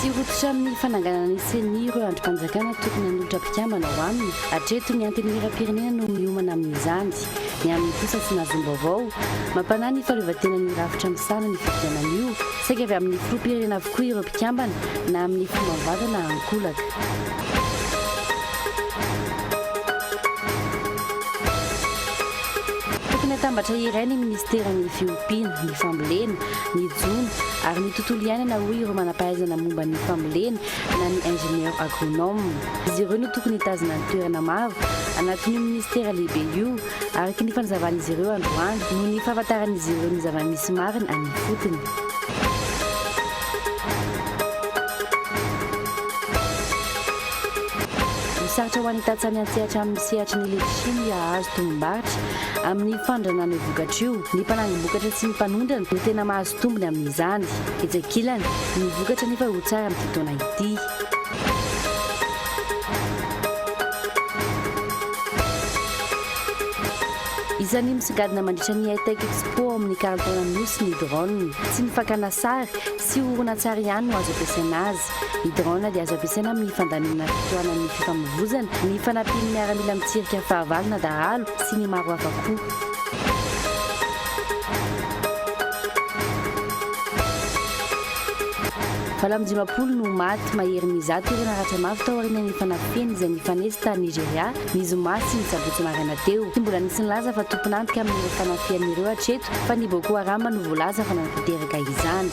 Tsy rototra amin'ny fananganana ny ceni ireo andrim-panjakana tokony hanolotra mpikambana ho aminy. Hatreto ny Antenimierampirenena no miomana amin'izany. Ny aminy kosa tsy nahazom-baovao. Mampanahy ny fahaleovantenan'ny rafitra misahana ny fifidianana io. Saika avy amin'ny filoham-pirenena avokoa ireo mpikambana na amin'ny fo mavanta na ankolaka. Tokony hatambatra iray ny minisiteran'ny fiompiana, ny fambolena, ny jono ary ny tontolo iainana, hoy ireo manam-pahaizana momba ny fambolena na ny ingénieur agronome. Izy ireo no tokony hitazona ny toerana maro anatin'io minisitera lehibe io, araka ny fanazavan'izy ireo androany, noho ny fahafantaran'izy ireo ny zava-misy marina any ifotony. Sarotra ho any tantsaha miantsehatra amin'ny sehatry ny letisia ny hahazo tombom-barotra. Amin'ny fandranana io vokatra io, ny mpanangom-bokatra sy ny mpanondrana no tena mahazo tombony amin'izany. Etsy ankilany, ny vokatra anefa ho tsara amin'ity taona ity. Isan'ny misongadina mandritra ny Hightech Expo ao amin'ny Kanton Anosy ny drone. Tsy ny fakana sary sy horonantsary ihany no azo ampiasaina azy. Ny drone dia azo ampiasaina amin'ny fandaminana fitohanan'ny fifamoivoizana, ny fanampian'ny miaramila mitsirika fahavalo na dahalo sy ny maro hafa koa. Valo amby dimampolo no maty, maherin'ny zato ireo naratra mafy tao aorianan'ny fanafihana izay nifanesy tany Nigeria, ny zoma sy ny sabotsy maraina teo. Tsy mbola nisy nilaza fa tompon'antoka amin'ireo fanafihana ireo hatreto, fa ny Boko Haram no voalaza fa nanatanteraka izany.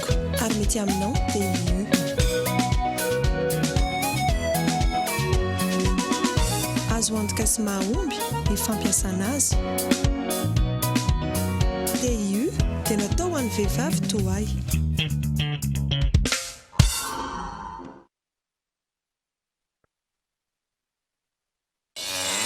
amiko ary mety aminao dia io. Azo antoka sy mahomby ny fampiasana azy. TIU dia natao ho an'ny vehivavy toa ahy.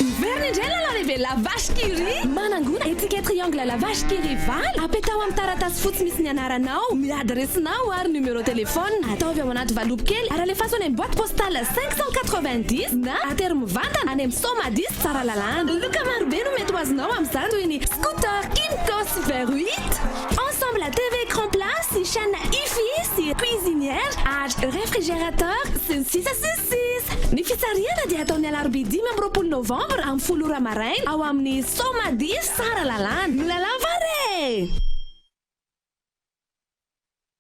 Miverina indray lala lehibe la vache qui rit. Manangona étiquette triangle la vache qui rit valo, apetaho amin'ny taratasy fotsy misy ny anaranao, ny adiresinao ary numéro téléphone. Ataovy ao anaty valopy kely ary alefaso any amin'ny boite postale 590 na atery mivantana any amin'ny Somadis Tsaralalàna. Loka marobe no mety ho azonao amin'izany toy ny scooter, Kymco sy Veruit. Ensemble à TV Écran Plat sy chaîne Hifi sy Cuisinière ary Réfrigérateur sy ny sisa sy ny sisa. Ny fitsarihana dia atao ny alarobia dimy amby roapolo novambra amin'ny folo ora maraina ao amin'ny Somadi Tsaralalàna. Milalao va re?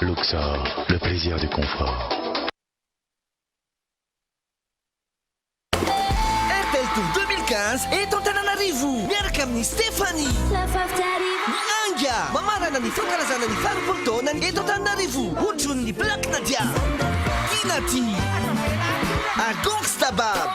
Luxor, le plaisir du confort. Airtel Tour 2015 eto Antananarivo miaraka amin'ny Stéphanie. Miainga! Mamarana ny fankalazana ny faharoapolo taonany eto Antananarivo hotron'ny Black Nadia, Kinati ary Gongsta Bab.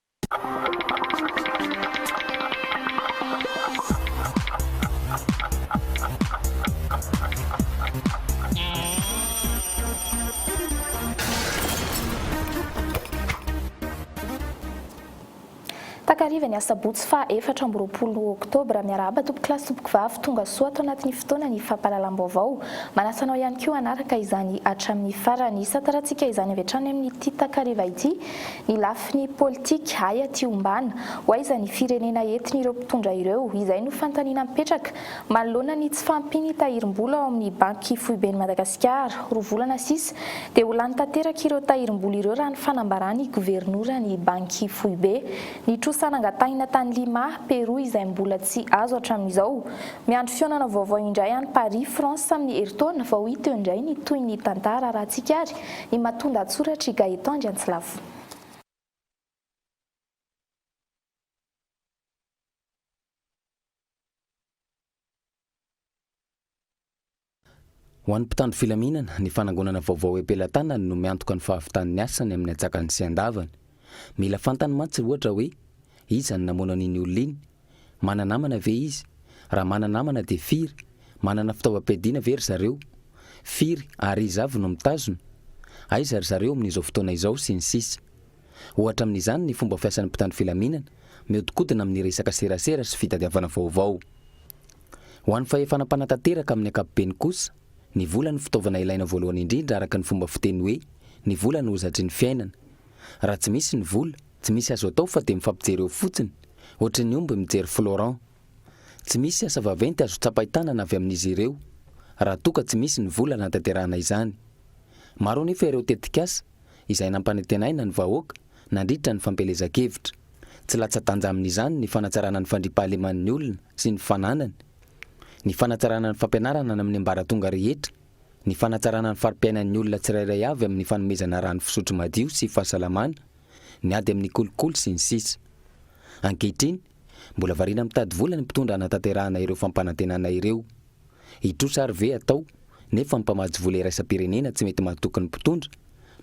Takariva ny asabotsy faha efatra amby roapolo oktobra. Miarahaba tompokolahy sy tompokovavy tonga soa ato anatin'ny fotoanan'ny fampahalalam-baovao. Manasa anao ihany koa hanaraka izany hatramin'ny farany. Hisantarantsika izany avy hatrany amin'ity takariva ity Ny lafiny politika, ay aty ombana, ho aiza ny firenena entin'ireo mpitondra ireo, izay no fanontaniana mipetraka, manoloana ny tsy fahampian'ny tahirim-bola ao amin'ny banky foiben'i Madagasikara, roa volana sisa dia ho lany tanteraka ireo tahirim-bola ireo raha ny fanambaran'ny governoran'ny banky foibe. Ny trosa nangatahina tany Lima, Pérou izay mbola tsy azo hatramin'izao. Miandry fihaonana vaovao indray any Paris, France amin'ny herintaona vao hita eo indray ny tohin'ny tantara raha tsika ary I Matunda an-tsoratra i Gaëtan Andriantsilavo. Ho an'ny mpitandro filaminana, ny fanangonana vaovao am-pelatanany no miantoka ny fahavitan'ny asany amin'ny antsakany sy andavany. Mila fantany mantsy, ohatra, hoe iza no namono an'iny olona iny, Mana-namana ve izy? Raha mana-namana dia firy? Manana fitaovam-piadiana ve ry zareo? Firy ary iza avy no mitazona? Aiza ry zareo amin'izao fotoana izao? sy ny sisa Ohatra amin'izany ny fomba fiasan'ny mpitandro filaminana mihodinkodina amin'ny resaka serasera sy fitadiavana vaovao. Ho an'ny fahefana mpanatanteraka amin'ny ankapobeny kosa, ny vola no fitaovana ilaina voalohany indrindra araka ny fomba fiteny hoe ny vola no hozatry ny fiainana. Raha tsy misy ny vola, Tsy misy azo atao fa dia mifampijery eo fotsiny, ohatry ny omby mijery Florent. Tsy misy asa vaventy azo tsapain-tanana avy amin'izy ireo, raha toa ka tsy misy ny vola hanatanterahana izany. Maro anefa ireo tetikasa izay nampanantenaina ny vahoaka nandritra ny fampielezan-kevitra. Tsy latsa-danja amin'izany ny fanatsarana ny fandriam-pahaleman'ny olona sy ny fananany, ny fanatsarana ny fampianarana any amin'ny ambaratonga rehetra, ny fanatsarana ny fari-piainan'ny olona tsirairay avy amin'ny fanomezana rano fisotro madio sy fahasalamana, ny ady amin'ny kolikoly sy ny sisa Ankehitriny, mbola variana mitady vola ny mpitondra hanatanterahana ireo fampanantenana ireo. Hitrosa ary ve atao nefa ny mpamatsy vola iraisam-pirenena tsy mety mahatoky ny mpitondra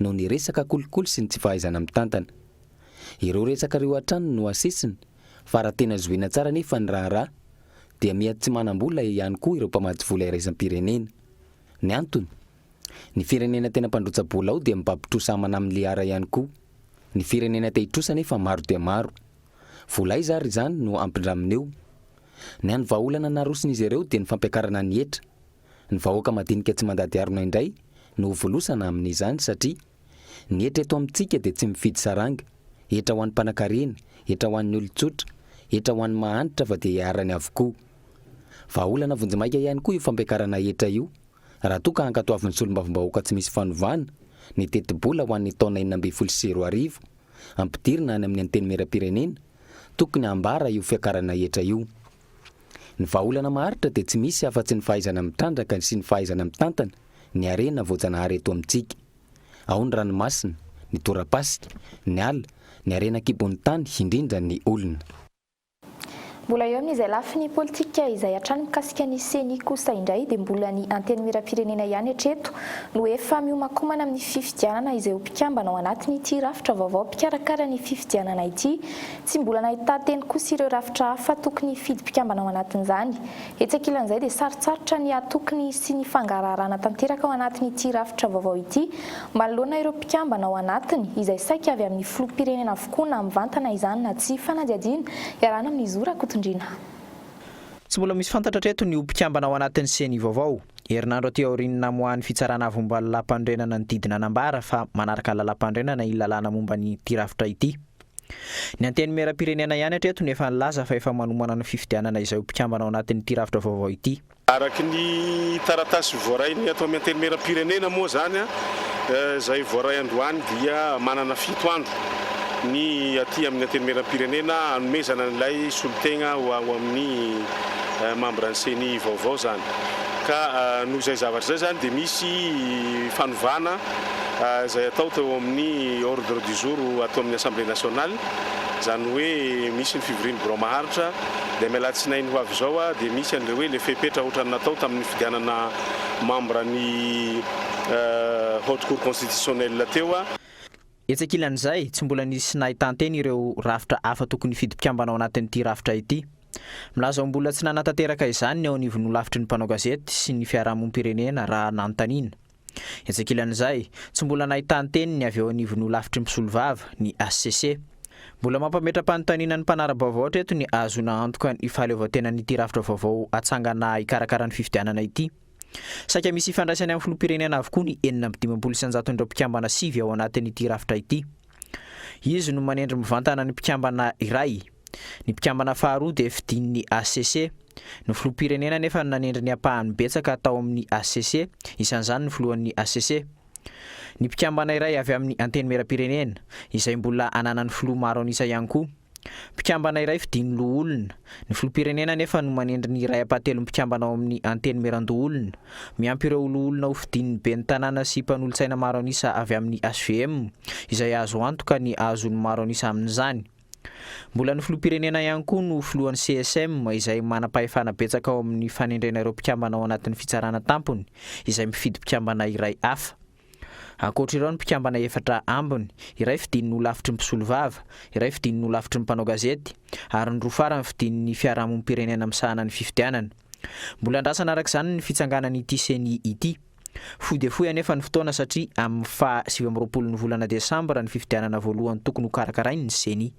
noho ny resaka kolikoly sy ny tsy fahaizana mitantana? Ireo resaka ireo hatrany no asesiny fa raha tena zohiana tsara anefa ny raharaha dia miha tsy manam-bola ihany koa ireo mpamatsy vola iraisam-pirenena. Ny antony? Ny firenena tena mpandrotsa bola ao dia mibaby trosa amana amin'ny liara ihany koa. Ny firenena te hitrosa nefa maro dia maro. Vola aiza ary izany no hampindramina eo? Ny hany vahaolana naroson'izy ireo dia ny fampiakarana ny hetra. Ny vahoaka madinika tsy mandady harona indray no ho volosana amin'izany satria ny hetra eto amintsika dia tsy mifidy saranga, hetra ho an'ny mpanakarena, hetra ho an'ny olon-tsotra, hetra ho an'ny mahantra fa dia iharany avokoa. Vahaolana vonjimaika ihany koa io fampiakarana hetra io raha toa ka hankatoavin'ny solombavambahoaka tsy misy fanovana ny tetibola ho an'ny taona enina ambin'ny folo sy roa arivo ampidirina any amin'ny Antenimierampirenena, tokony hambara io fiakarana hetra io. Ny vahaolana maharitra dia tsy misy afa-tsy ny fahaizana mitrandraka sy ny fahaizana mitantana ny harena voajanahary eto amintsika. Ao ny ranomasina, ny torapasika, ny ala, ny harena an-kibon'ny tany, indrindra ny olona. Mbola eo amin'izay lafiny politika izay hatrany mikasika ny ceni kosa indray dia mbola ny Antenimierampirenena ihany hatreto no efa mihomakomana amin'ny fifidianana izay ho mpikambana ao anatin'ity rafitra vaovao mpikarakara ny fifidianana ity tsy mbola nahitan-teny kosa ireo rafitra hafa tokony hifidy mpikambana ao anatin'izany etsy ankilan'izay dia sarotsarotra ny hatoky ny sy ny fangaraharana tanteraka ao anatin'ity rafitra vaovao ity Manoloana ireo mpikambana ao anatiny, izay saika avy amin'ny filoham-pirenena avokoa na mivantana izany na tsia, fanadihadiana iarahana amin'i Zo Rakotondrina. Tsy mbola misy fantatra hatreto ny ho mpikambana ao anatin'ny Ceni vaovao. Herinandro aty aorian'ny namoahan'ny Fitsarana Avo Omba Lalàmpanorenana ny didy nanambara fa manaraka lalàmpanorenana iny lalàna momba ny ity rafitra ity. Ny Antenimierampirenena ihany hatreto no efa nilaza fa efa manomana ny fifidianana izay ho mpikambana ao anatin'ity rafitra vaovao ity. Araka ny taratasy voaray ny ato amin'ny Antenimieram-pirenena moa izany, izay voaray androany dia manana fito andro ny aty amin'ny Antenimieram-pirenena hanomezana an'ilay solotegna ho ao amin'ny mambran'ny Ceni vaovao izany. Ka noho izay zavatra izay izany dia misy fanovana izay hatao teo amin'ny ordre du jour ato amin'ny Assemblée nationale, izany hoe misy ny fivorian'ny birao maharitra, Dia ny alatsinainy ho avy izao dia misy an'ireo hoe ilay fepetra ohatran'ny natao tamin'ny fifidianana membre ny Haute Cour Constitutionnelle teo. Etsy ankilan'izay, tsy mbola nisy nahitan-teny ireo rafitra hafa tokony hifidy mpikambana ao anatin'ity rafitra ity. Milaza ho mbola tsy nanatanteraka izany ny eo anivon'ny holafitry ny mpanao gazety sy ny fiarahamonim-pirenena raha nanontaniana. Etsy ankilan'izay, tsy mbola nahita ny teniny avy eo anivon'ny holafitry ny mpisolovava, ny hcc. Mbola mampametra-panontaniana ny mpanara-baovao hatreto ny hahazoana antoka ny fahaleovantenan'ity rafitra vaovao hatsangana hikarakara ny fifidianana ity. Saika misy ifandraisany amin'ny filoham-pirenena avokoa ny enina amby dimampolo isanjaton'ireo mpikambana sivy ao anatin'ity rafitra ity. Izy no manendry mivantana ny mpikambana iray. Ny mpikambana faharoa dia fidin'ny hcc. Ny filoham-pirenena anefa no nanendry ny ampahany betsaka tao amin'ny hcc, isan'izany ny filohan'ny hcc. Ny mpikambana iray avy amin'ny Antenimierampirenena, izay mbola ananan'ny filoha maro an'isa ihany koa. Mpikambana iray fidin'ny loholona. Ny filoham-pirenena anefa no manendry ny iray ampahatelon'ny mpikambana ao amin'ny Antenimierandoholona. Miampy ireo loholona ho fidin'ny ben'ny tanàna sy mpanolotsaina maro an'isa avy amin'ny hvm, izay azo antoka ny hahazoany maro an'isa amin'izany. Mbola ny filoham-pirenena ihany koa no filohan'ny CSM, izay manam-pahefana betsaka ao amin'ny fanendrena ireo mpikambana ao anatin'ny Fitsarana Tampony, izay mifidy mpikambana iray hafa. Ankoatra ireo ny mpikambana efatra ambiny, iray fidin'ny holafitry ny mpisolovava, iray fidin'ny holafitry ny mpanao gazety, ary ny roa farany fidin'ny fiarahamonim-pirenena misahana ny fifidianana. Mbola andrasana araka izany ny fitsanganan'ity ceni ity. Fohy dia fohy anefa ny fotoana satria amin'ny faha sivy amby roapolon'ny volana desambra ny fifidianana voalohany tokony hokarakarain'ny ceni.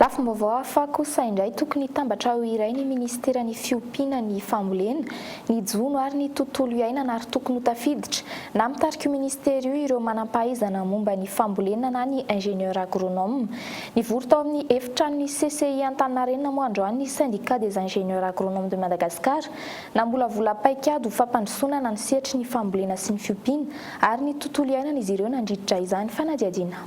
Lafim-baovao hafa kosa indray tokony hitambatra ho iray ny minisiteran'ny fiompiana ny fambolena, ny jono ary ny tontolo iainana ary tokony ho tafiditra na mitarika io minisitera io ireo manam-pahaizana momba ny fambolena na ny ingénieur agronome. Nivory tao amin'ny efitranon'ny CCI Antaninarenina moa androany ny Syndicat des ingénieurs agronomes de Madagascar namolavola paikady ho fampandrosoana na ny sehatry ny fambolena sy ny fiompiana ary ny tontolo iainana izy ireo nandritra izany fanadihadiana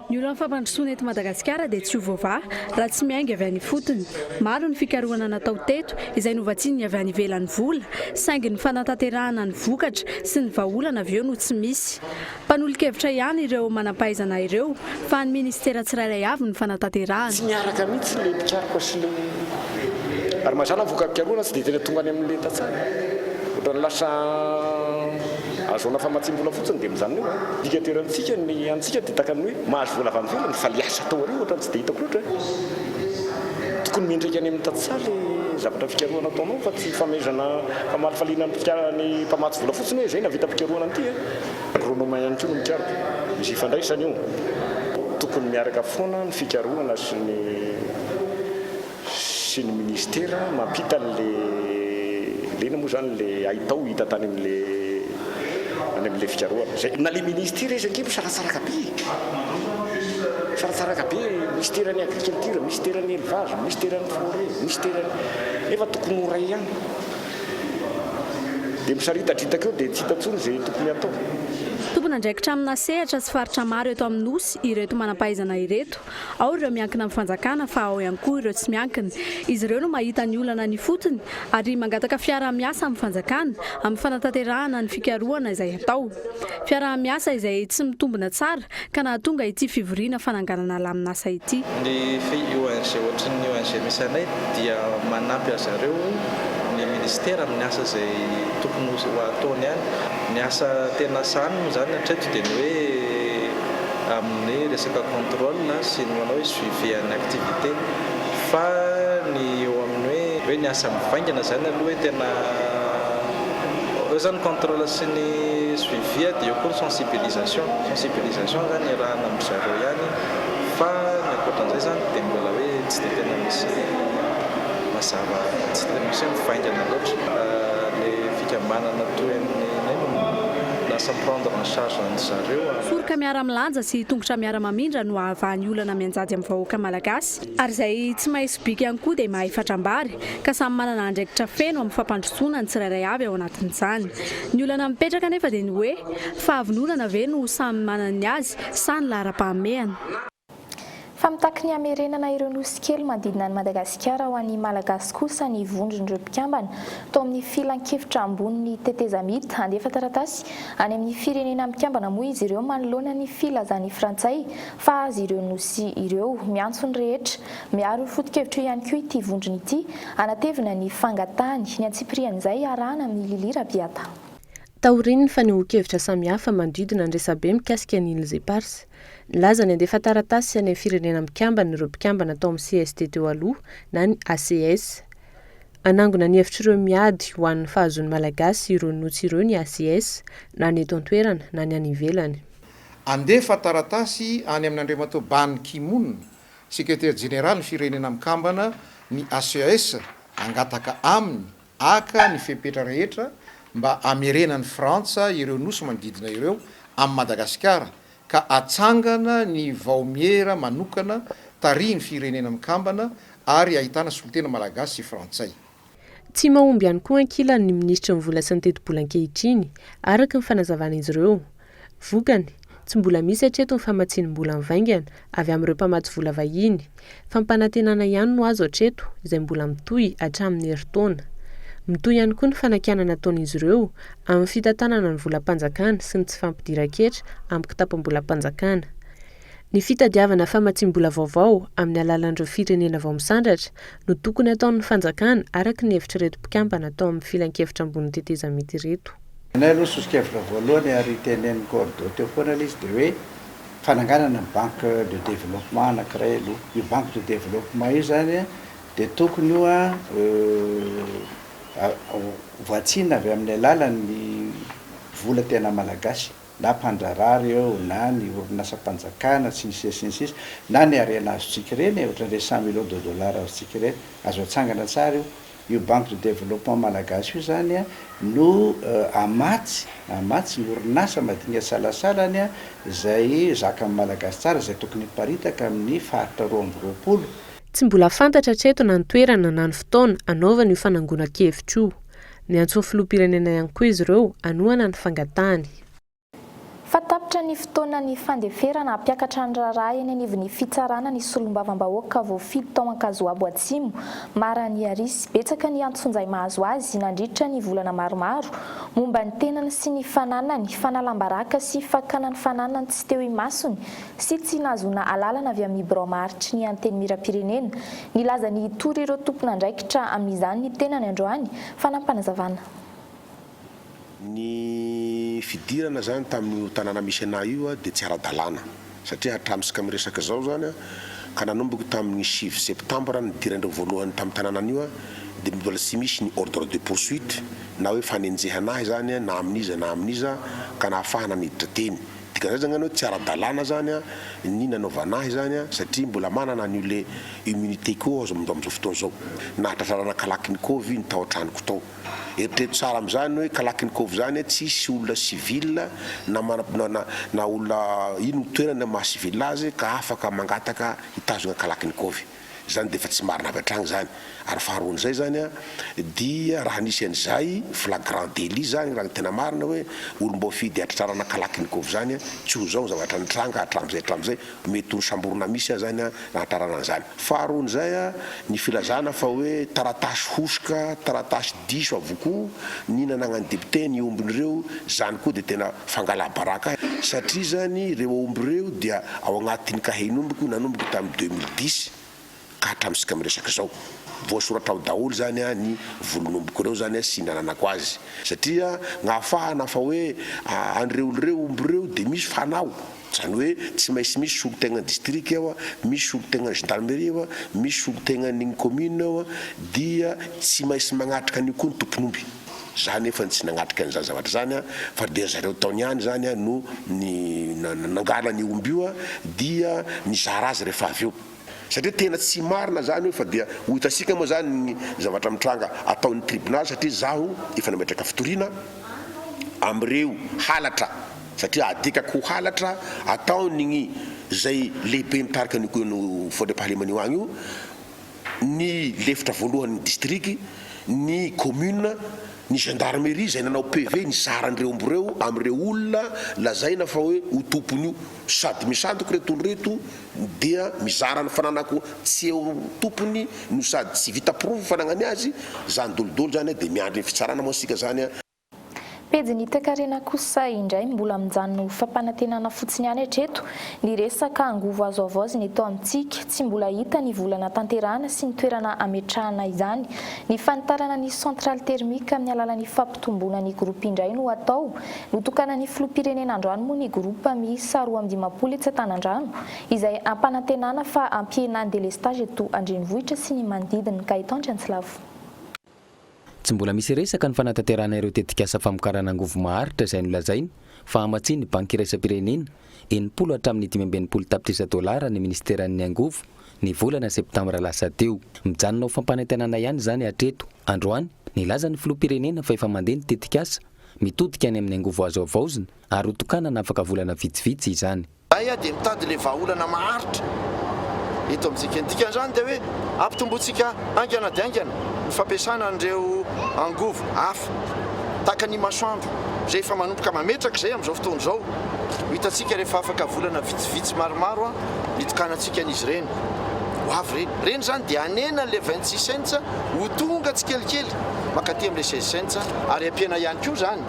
Ny olan'ny fampandrosoana eto Madagasikara dia tsy ho voavaha raha tsy miainga avy any ifotony. Maro ny fikarohana natao teto izay novatsian'ny avy any ivelany vola saingy ny fanatanterahana ny vokatra sy ny vahaolana avy eo no tsy misy. Mpanolo-kevitra ihany ireo manam-pahaizana ireo fa an'ny minisitera tsirairay avy ny fanatanterahana. Tsy miaraka mihitsy ilay mpikaroka sy ilay ary mazàna ny vokam-pikarohana tsy dia tena tonga any amin'ny lenta tsara. Ohatran'ny lasa. Azahoana famatsiam-bola fotsiny dia mijanona eo an! Dika dera antsika ny antsika dia tahaka ny hoe mahazo vola avy any ivelany fa ilay asa atao aoriana ohatrany tsy dia hitako loatra an! Tokony miantraika any amin'ny tantsaha ilay zavatra fikarohana ataonao fa tsy fanomezana famalifaliana ny mpikara ny mpamatsy vola fotsiny hoe izay navitam-pikarohana an'ity an! Agronoma ihany koa no mikaroka. Misy ifandraisany io. Tokony miaraka foana ny fikarohana sy ny. sy ny ministera mampita anle lena moa zany le haitao hita tany amle any amle fikarohana zay na le ministera izy ange misaratsaraka be e misaratsaraka be ministera ny agriculture ministera ny elevage ministera ny foret ministera ny nefa tokony ho ray ihany de misaritatritaka eo de tsy hita tsony ze tokony hatao. Tompon'andraikitra amina sehatra sy faritra maro eto amin'ny Nosy ireto manam-pahaizana ireto. Ao ireo miankina amin'ny fanjakana fa ao ihany koa ireo tsy miankina. Izy ireo no mahita ny olana any ifotony ary mangataka fiaraha-miasa amin'ny fanjakana amin'ny fanatanterahana ny fikarohana izay atao. Fiaraha-miasa izay tsy mitombina tsara ka nahatonga ity fivoriana fananganana lamin'asa ity. Ny FIONG ohatry ny ONG misy anay dia manampy an-dry zareo ny Ministera amin'ny asa izay tokony ho ataony any. Ny asa tena sahaniny moa izany hatreto dia ny hoe. amin'ny resaka contrôle sy ny manao hoe suivi an'ny activité fa ny eo amin'ny hoe hoe ny asa mivaingana izany aloha hoe tena eo izany ny contrôle sy ny suivi dia eo koa ny sensibilisation sensibilisation izany iarahana amin-dry zareo ihany fa ny ankoatra an'izay izany dia mbola hoe tsy dia tena misy mazava tsy dia misy hoe mivaingana loatra ilay fikambanana toy an'ny inona no lasa mi-prendre en charge an'izany. Foroka miara-milanja sy tongotra miara-mamindra no ahavahan'ny olana mianjady amin'ny vahoaka malagasy. Ary izay tsy mahay sobika ihany koa dia mahay fatrambary, ka samy manana andraikitra feno amin'ny fampandrosoana ny tsirairay avy ao anatin'izany. Ny olana mipetraka anefa dia ny hoe, fahavononana ve no samy manana ny azy sa ny laharam-pahamehana? Fa mitaky ny hamerenana ireo nosy kely manodidina an'i Madagasikara ho an'ny Malagasy kosa ny vondron'ireo mpikambana tao amin'ny Filankevitra ambonin'ny tetezamita. Handefa taratasy any amin'ny firenena mikambana moa izy ireo manoloana ny filazan'ny Frantsay fa azy ireo nosy ireo. Miantso ny rehetra miaro foto-kevitra io ihany koa ity vondrona ity hanatevina ny fangatahany. Ny antsipirian'izay iarahana amin'i Lily Rabiata. Taorian'ny fanehoan-kevitra samihafa manodidina ny resabe mikasika ny Îles Éparses, Nilaza ny handefa taratasy any amin'ny Firenena Mikambana ireo mpikambana tao amin'ny cst teo aloha na ny ACS. Hanangona ny hevitr'ireo miady ho an'ny fahazoan'ny Malagasy ireo nosy ireo ny ACS, na ny eto an-toerana na ny any ivelany. Handefa taratasy any amin'Andriamatoa Ban Ki Moon, Sekretera Jeneralin'ny Firenena Mikambana ny ACS hangataka aminy Haka ny fepetra rehetra mba hamerenan'i Frantsa ireo nosy manodidina ireo amin'i Madagasikara ka hatsangana ny vaomiera manokana tarihin'ny Firenena Mikambana ary ahitana solontena malagasy sy frantsay. Tsy mahomby ihany koa ankilany ny minisitry ny Vola sy ny Tetibola ankehitriny, araka ny fanazavan'izy ireo. Vokany, tsy mbola misy hatreto ny famatsiam-bola mivaingana avy amin'ireo mpamatsy vola vahiny. Fampanantenana ihany no azo hatreto, izay mbola mitohy hatramin'ny herintaona. Mitohy ihany koa ny fanakianana ataon'izy ireo amin'ny fitantanana ny volam-panjakana sy ny tsy fampidiran-ketra amin'ny kitapom-bolam-panjakana. Ny fitadiavana famatsiam-bola vaovao amin'ny alalan'ireo firenena vao misandratra no tokony hataon'ny fanjakana araka ny hevitr'ireto mpikambana tao amin'ny filankevitra ambon'ny tetezamita ireto. Ny anay aloha soso-kevitra voalohany ary tenenin'i Cordo teo foana ilay izy dia hoe fananganana ny banque de développement anankiray aloha. Io banque de développement io izany dia tokony ho voatsina avy amin'ny alalan'ny vola tena malagasy. na mpandraharaha ireo na ny orinasam-panjakana sy ny sisa sy ny sisa na ny harena azontsika ireny e, ohatran'ireny cent millions de dollars azontsika ireny, azo atsangana tsara io. Io banque de développement malagasy io izany an no hamatsy, hamatsy ny orinasa madinika salasalany an izay zakan'ny malagasy tsara izay tokony hiparitaka amin'ny faritra roa amby roapolo. Tsy mbola fantatra hatreto na ny toerana na ny fotoana hanaovana io fanangonan-kevitra io. Niantsoan'ny filoham-pirenena ihany koa izy ireo hanohana ny fangatahany. Fa tapitra ny fotoanan'ny fandeferana hampiakatra ny raharaha eny anivon'ny fitsarana ny solombavambahoaka voafidy tao Ankazoabo Atsimo, Mara Niarisy. Betsaka ny antsonjay mahazo azy nandritra ny volana maromaro momba ny tenany sy ny fananany, fanalam-baraka sy fakana ny fananany tsy teo imasony sy tsy nahazoana alalana avy amin'ny birao maharitry ny Antenimierampirenena Nilaza ny hitory ireo tompon'andraikitra amin'izany ny tenany androany, fanampanazavana. Ny fidirana zany tamin'io tanàna misy anah io dia tsy ara-dalàna satria hatramintsika miresaka izao zany ka nanomboka tamin'ny sivy septambra nidiran'ireo voalohany tamin'io tanàna an'io dia mbola tsy misy ny ordre de poursuite na hoe fanenjehana ahy zany na amin'iza na amin'iza ka nahafahana niditra teny Dika zany zany hoe tsy ara-dalàna zany ny nanaovana ahy zany satria mbola manana an'io le immunité ko aho amin'izao fotoana izao. Nahatratrarana kalachnikov ny tao an-tranoko tao. Eritrereto tsara amin'izany hoe kalachnikov zany tsy hisy olona civil na manana na olona ino ny toerany maha civil azy ka afaka mangataka hitazona kalachnikov. Izany dia efa tsy marina avy hatrany izany. Ary faharoan'izay izany dia raha nisy an'izay flagrant délit izany, raha ny tena marina hoe olom-boafidy hatratrarana Kalachnikov izany, tsy ho izao ny zavatra nitranga hatramin'izay hatramin'izay, mety ho nisamborina misy aza izany nahatrarana an'izany. Faharoan'izay, ny filazana fa hoe taratasy hosoka, taratasy diso avokoa ny nananan'ny député ny ombiny ireo, izany koa dia tena fangala-baraka, satria izany ireo omby ireo dia Ao anatin'ny kahie nomboko nanomboka tamin'ny deux mille dix ka hatramin'isika miresaka izao. Voasoratra ao daholo izany ny volon'ombiko ireo izany sy ny nananako azy. Satria nahafahana fa hoe an'ireo ireo omby ireo dia misy fanao. Izany hoe tsy maintsy misy solontenan'ny distrika ao, misy solontenan'ny gendarmerie ao, misy solontenan'iny commune ao dia tsy maintsy magnatrika an'io koa ny tompon'omby. Za nefa tsy nagnatrika an'izany zavatra izany a, fa dia zareo taony ihany izany a no ni na nangalany io omby io a, dia nizara azy rehefa avy eo. Satria tena tsy marina izany io, fa dia ho hitantsika moa izany ny zavatra mitranga ataon'ny tribunaly, satria zaho efa nametraka fitoriana amin'ireo halatra, satria adikako ho halatra ataon'igny izay lehibe mitarika an'io ko an'io Fondriampahalemana io agny io, ny lefitra voalohan'ny distrika, ny kaominina, ny gendarmerie izay nanao PV nizara an'ireo omby ireo amin'ireo olona lazaina fa hoe ho tompony io. Sady misandoka ireto olona ireto dia mizara ny fananako tsy eo tompony no sady tsy vita porofo ny fananany azy, izany dôlidôly izany dia miandry ny fitsarana moa isika izany. Pejy ny toekarena kosa indray no mbola mijanona ho fampanantenana fotsiny ihany hatreto. Ny resaka angovo azo havaozina eto amintsika, tsy mbola hita ny vola natanterahana sy ny toerana hametrahana izany. Ny fanitarana ny centrale thermique amin'ny alalan'ny fampitomboana ny groupe indray no hatao. Notokanan'ny filoham-pirenena androany moa ny groupe miisa roa amby dimampolo etsy Antanandrano izay ampanantenana fa hampihena ny delestage eto an-drenivohitra sy ny manodidina. Gaëtan Triantsilavo. Tsy mbola misy resaka ny fanatanterahana ireo tetikasa famokarana angovo maharitra izay nolazainy fa hamatsian'ny Banky Iraisam-pirenena enimpolo hatramin'ny dimy amby enimpolo tapitrisa dolara ny Minisiteran'ny Angovo ny volana septambra lasa teo. Mijanona ho fampanantenana ihany izany hatreto. Androany, nilaza ny Filoham-pirenena fa efa mandeha ny tetikasa mitodika any amin'ny angovo azo havaozina ary hotokanana afaka volana vitsivitsy izany. Zahay ah dia mitady le vahaolana maharitra eto amintsika. Ny dikan'izany dia hoe ampitombointsika haingana dia haingana ny fampiasana an'ireo angovo hafa tahaka ny masoandro izay efa manomboka mametraka izay amin'izao fotoana izao. Ho hitantsika rehefa afaka volana vitsivitsy maromaro an ny tokanantsika an'izy ireny ho avy ireny. Ireny izany dia hanena an'ilay vingt six cents ho tonga tsikelikely mankaty amin'ilay seize cents ary ampiana ihany koa izany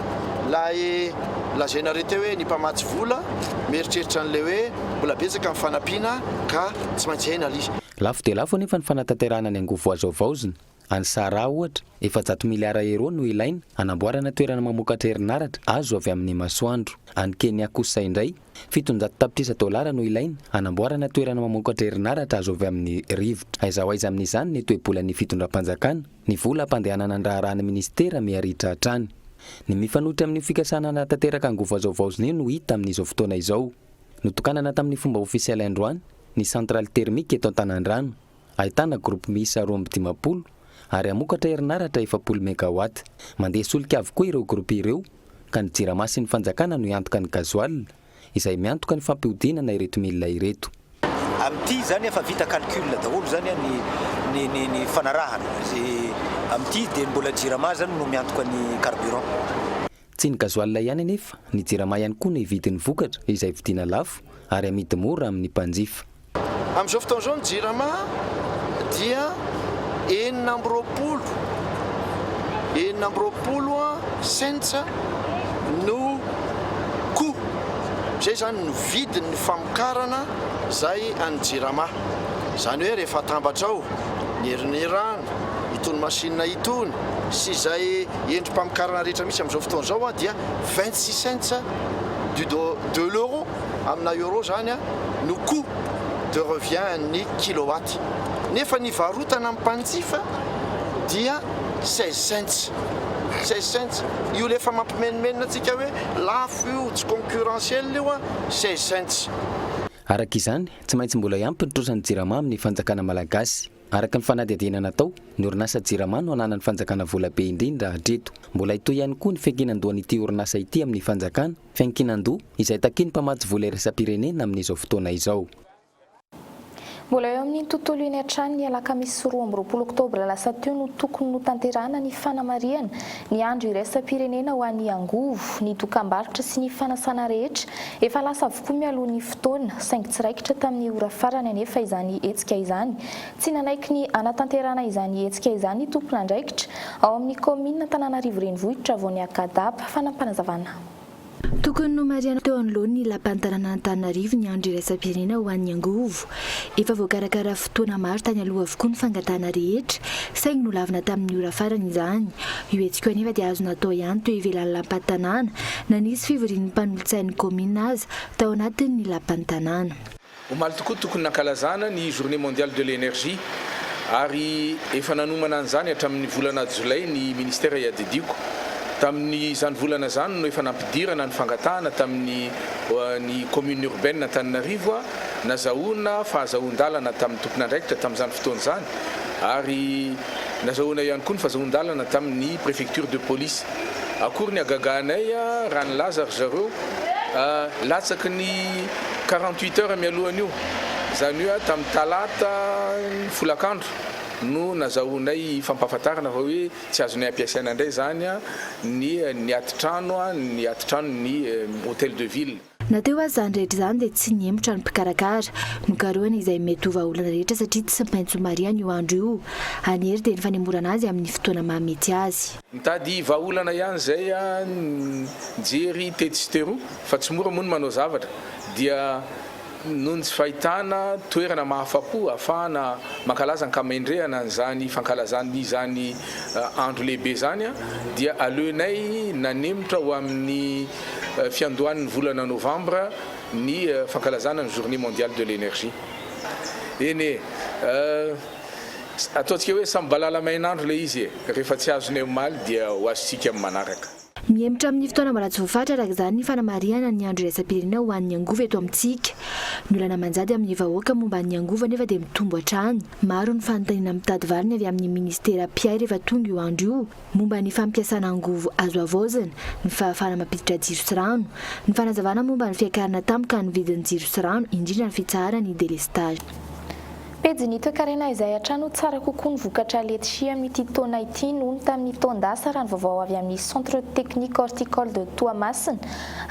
Ilay lazainareo teo hoe ny mpamatsy vola mieritreritra an'ilay hoe mbola betsaka ny fanampiana ka tsy maintsy hay na lia. Lafo dia lafo anefa ny fanatanterahana ny angovo azo havaozina. Any Sahara, ohatra, efajato miliara euro no ilaina hanamboarana toerana mamokatra herinaratra azo avy amin'ny masoandro. Any Kenya kosa indray, Fitonjato tapitrisa dolara no ilaina hanamboarana toerana mamokatra herinaratra azo avy amin'ny rivotra. Aiza ho aiza amin'izany ny toe-bolan'ny fitondram-panjakana? Ny vola hampandehanana ny raharaha ny minisitera miha-ritra hatrany. Ny mifanohitra amin'io fikasana hanatanteraka angovo hazaovaozina io no hita amin'izao fotoana izao. Notokanana tamin'ny fomba ofisialy androany ny centrale thermique eto Antanandrano. Ahitana groupe miisa roa amby dimampolo ary hamokatra herinaratra efapolo megawatt. Mandeha solika avokoa ireo groupe ireo ka ny Jirama sy ny Fanjakana no hiantoka ny gasoil izay miantoka ny fampihodinana ireto milina ireto. Amin'ity izany efa vita calcul daholo izany ny ny ny fanarahana amin'ity dia mbola Jirama izany no miantoka ny carburant. Tsy ny gasoil ihany anefa, ny jirama ihany koa ny vidin'ny vokatra izay vidiana lafo ary amidy mora amin'ny mpanjifa. Amin'izao fotoana izao ny jirama dia enina amby roapolo enina amby roapolo cents no coût, izay izany no vidin'ny famokarana izay an'ny jirama. Izany hoe rehefa atambatra ao ny herin'ny rano, itony machine itony sy izay Endri-pamokarana rehetra misy amin'izao fotoana izao dia vingt six cents du de l'euro, amina euro izany, no coût de revient an'ny kilowatt. Nefa ny varotana amin'ny mpanjifa dia seize cents. Seize cents. Io ilay efa mampimenomenona antsika hoe lafo io, tsy concurrentiel io an, seize cents. Araka izany, tsy maintsy mbola hiampy ny trosan'ny Jirama amin'ny fanjakana malagasy. Araka ny fanadihadiana natao, ny orinasa Jirama no ananan'ny fanjakana vola be indrindra hatreto. Mbola hitohy ihany koa ny fiankinan-dohan'ity orinasa ity amin'ny fanjakana, fiankinan-doha izay takian'ny mpamatsy vola iraisam-pirenena amin'izao fotoana izao. Mbola eo amin'iny tontolo iny hatrany ny alakamisy roa amby roapolo oktobra lasa teo no tokony notanterahana ny fanamarihana Ny andro iraisam-pirenena ho an'ny angovo, ny dokambarotra sy ny fanasana rehetra, efa lasa avokoa mialoha ny fotoana, saingy tsy raikitra tamin'ny ora farany anefa izany hetsika izany. Tsy nanaiky ny hanatanterahana izany hetsika izany ny tompon'andraikitra ao amin'ny kaominina Antananarivo Renivohitra vao niaka daba, fanampanazavanà. Tokony nomarihana teo anoloan'ny Lapan'ny tanànan'Antananarivo ny Andro iraisam-pirenena ho an'ny angovo. Efa voakarakara fotoana maro tany aloha avokoa ny fangatahana rehetra, saingy nolavina tamin'ny ora farany izany. Io hetsika io anefa dia azo natao ihany teo ivelan'ny Lapan'ny tanàna, na nisy fivorian'ny mpanolotsain'ny kaominina aza tao anatin'ny Lapan'ny tanàna. Omaly tokoa tokony nankalazana ny Journée Mondiale de l'Energie ary efa nanomana an'izany hatramin'ny volana Jolay ny Ministera iadidiako. Tamin'izany volana izany no efa nampidirana ny fangatahana tamin'ny ny Commune Urbaine Antananarivo, nazahoana fahazahoan-dalana tamin'ny tompon'andraikitra tamin'izany fotoana izany ary. Nazahoana ihany koa ny fazahoan-dalana tamin'ny prefecture de police. Akory ny hagagahanay raha nilaza ry zareo latsaky ny quarante huit heures mialohan'io, izany hoe tamin'ny talata folakandro no nazahoanay fampahafantarana fa hoe tsy azonay ampiasaina indray izany ny atitrano ny atitranon' ny hotel de ville. Na teo aza izany rehetra izany dia tsy nihemotra ny mpikarakara. Nokarohina izay mety ho vahaolana rehetra satria tsy maintsy marihana io andro io. An'i Hery dia ny fanemorana azy amin'ny fotoana mahamety azy. Nitady vahaolana ihany izay nijery tetsy sy teroa fa tsy mora moa ny manao zavatra dia noho ny tsy fahitana toerana mahafa-po ahafahana mankalaza ankamendrehana an'izany fankalazana izany andro lehibe izany dia aleonay nanemotra ho amin'ny fiandohan'ny volana novambra ny fankalazana ny journée mondiale de l'energie. Eny e! ataontsika hoe samy balala mainandro ilay izy e! rehefa tsy azonay omaly dia ho azontsika amin'ny manaraka. Mihemotra amin'ny fotoana mbola tsy voafaritra araka izany ny fanamarihana ny andro iraisam-pirenena ho an'ny angovo eto amintsika. Ny olana manjady amin'ny vahoaka momba ny angovo anefa dia mitombo hatrany. Maro ny fanontaniana mitady valiny avy amin'ny minisitera mpiay rehefa tonga io andro io. momba ny fampiasana angovo azo havaozina, ny fahafahana mampiditra jiro sy rano, ny fanazavana momba ny fiakarana tampoka ny vidin'ny jiro sy rano, indrindra ny fitsaharana ny delestage. Pejy ny toekarena izay hatrany ho tsara kokoa ny vokatra letchi amin'ity taona ity noho ny tamin'ny taon-dasa raha ny vaovao avy amin'ny Centre Technique Horticole de Toamasina.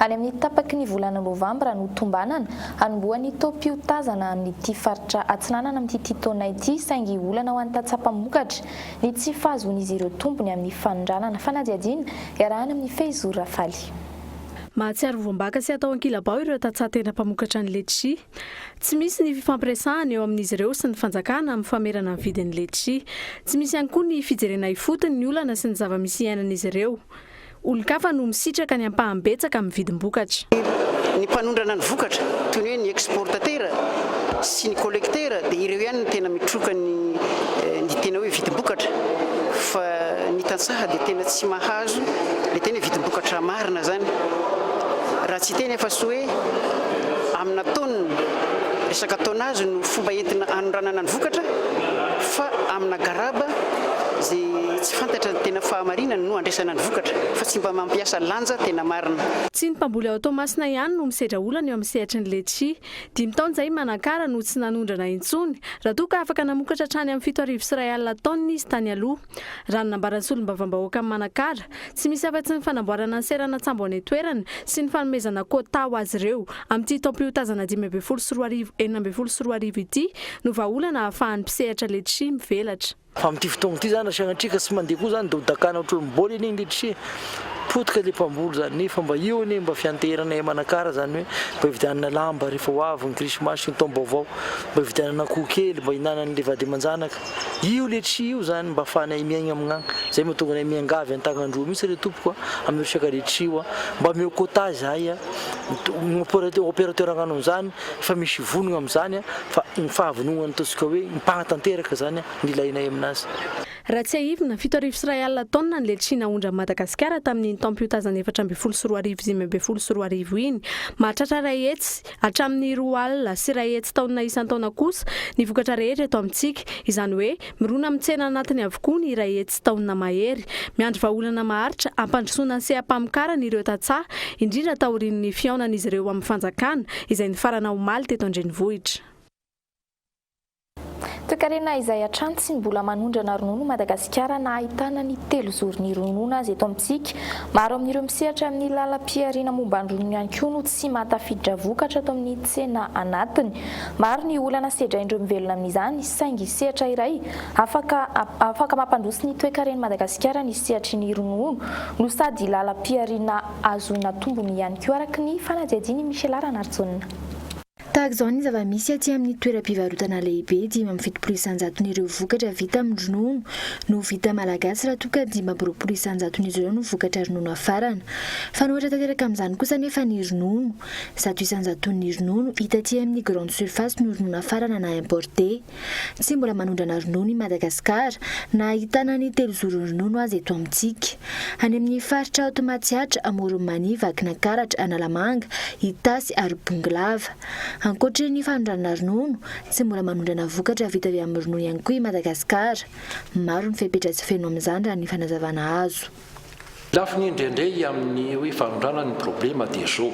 Any amin'ny tapaky ny volana novambra no tombanana hanombohan'ny taom-piotazana amin'ity faritra atsinanana amin'ity taona ity saingy olana ho an'ny tatsaha mpamokatra ny tsy fahazoan'izy ireo tombony amin'ny fanondranana. Fanadihadiana iarahana amin'i Feizour Rafaly. Mahatsiaro voam-baka sy atao ankilabao ireo tantsaha tena mpamokatra ny letchi. Tsy misy ny fifampiresahana eo amin'izy ireo sy ny fanjakana amin'ny famerana ny vidin'ny letchi. Tsy misy ihany koa ny fijerena ifotony ny olana sy ny zava-misy iainan'izy ireo. Olon-kafa no misitraka ny ampahany betsaka amin'ny vidim-bokatra. Ny mpanondrana ny vokatra, toy ny hoe ny exportatera sy ny collectera, dia ireo ihany no tena mitroka ny ny tena hoe vidim-bokatra fa ny tantsaha dia tena tsy mahazo ilay tena hoe vidim-bokatra marina izany. Raha tsy hiteny afa-tsy hoe amina tonne, resaka tonnage no fomba entina anondranana ny vokatra fa amina garaba izay Tsy fantatra ny tena fahamarinany no andraisana ny vokatra fa tsy mba mampiasa lanja tena marina. Tsy ny mpamboly ao Toamasina ihany no misedra olana eo amin'ny sehatry ny letchi. Dimy taona izay i Manakara no tsy nanondrana intsony, raha toa ka afaka namokatra hatrany amin'ny fito arivo sy iray alina taonina izy tany aloha. Raha ny nambaran'ny solombavambahoakan'i Manakara, tsy misy afa-tsy ny fanamboarana ny seranan-tsambo any an-toerana sy ny fanomezana quota ho azy ireo amin'ity taom-piotazana dimy ambin'ny folo sy roa arivo enina ambin'ny folo sy roa arivo ity no vahaolana ahafahan'ny mpisehatra letchi mivelatra. Fa amin'ity fotoagna ity zany raha sanatria ka tsy mandeha koa zany dia ho dakana ohatr'olom-bôly anie nge tsia. Potika ilay mpamboly zany nefa mba io anie mba fianteheranay à Manakara zany hoe mba hividianana lamba rehefa ho avy ny krismasy sy ny taom-baovao, mba hividianana akoho kely mba hinanan'ilay vady aman-janaka. Io ilay tsia io zany mba afahanay miaigna amin'agny. Zay mahatonga anay miangavy an-tagnan-droa mihitsy re tompoko a, amin'ny resaka le tsia io a. Mba ameo quota zahay a, opérateur agnano an'izany Efa misy vonogna amin'izany fa ny fahavononan'ny ataontsika hoe mpanatanteraka izany ny ilainay aminazy. Raha tsiahivina, fito arivo sy iray alina taonina ny letchie naondran'i Madagasikara tamin'iny taom-piotazana efatra ambin'ny folo sy roa arivo sy dimy ambin'ny folo sy roa arivo iny. Mahatratra iray hetsy hatramin'ny roa alina sy iray hetsy taonina isan-taona kosa ny vokatra rehetra eto amintsika, izany hoe Mirona amin'ny tsena anatiny avokoa ny iray hetsy taonina mahery. Miandry vahaolana maharitra hampandrosoana ny seha-pamokarany ireo tantsaha, indrindra taorian'ny fihaonan'izy ireo amin'ny fanjakana, izay nifarana omaly teto an-drenivohitra. Toekarena izay hatrany tsy mbola manondrana ronono i Madagasikara na ahitana ny telozoron'ny ronono aza eto amintsika. Maro amin'ireo misehatra amin'ny lalam-pihariana momba ny ronono ihany koa no tsy mahatafiditra vokatra ato amin'ny tsena anatiny. Maro ny olana sedrain'ireo mivelona amin'izany, saingy sehatra iray afaka afaka mampandroso ny toekaren'i Madagasikara ny sehatry ny ronono no sady lalam-pihariana ahazoana tombony ihany koa araka ny fanadihadian'i Michela Ranarijaona. Tahaka izao ny zava-misy aty amin'ny toeram-pivarotana lehibe, dimy amby fitopolo isanjaton'ireo vokatra vita amin'ny ronono no vita malagasy raha toa ka dimy amby roapolo isanjaton'izy ireo no vokatra ronono afarana. Fanohitra tanteraka amin'izany kosa anefa ny ronono. Zato isan-jaton'ny ronono hita aty amin'ny grande surface no ronono nafarana na importé. Tsy mbola manondrana ronono i Madagasikara, na ahitana ny telozorony ronono aza eto amintsika. Any amin'ny faritra aoty Matsiatra, Amoron'i Mania, Vakinankaratra, Analamanga, Itasy ary Bongolava. Ankoatry ny fanondranana ronono, tsy mbola manondrana vokatra vita avy amin'ny ronono ihany koa i Madagasikara. Maro ny fepetra tsy feno amin'izany raha ny fanazavana azo. Lafiny indraindray amin'ny hoe fanondranana ny problema dia zao,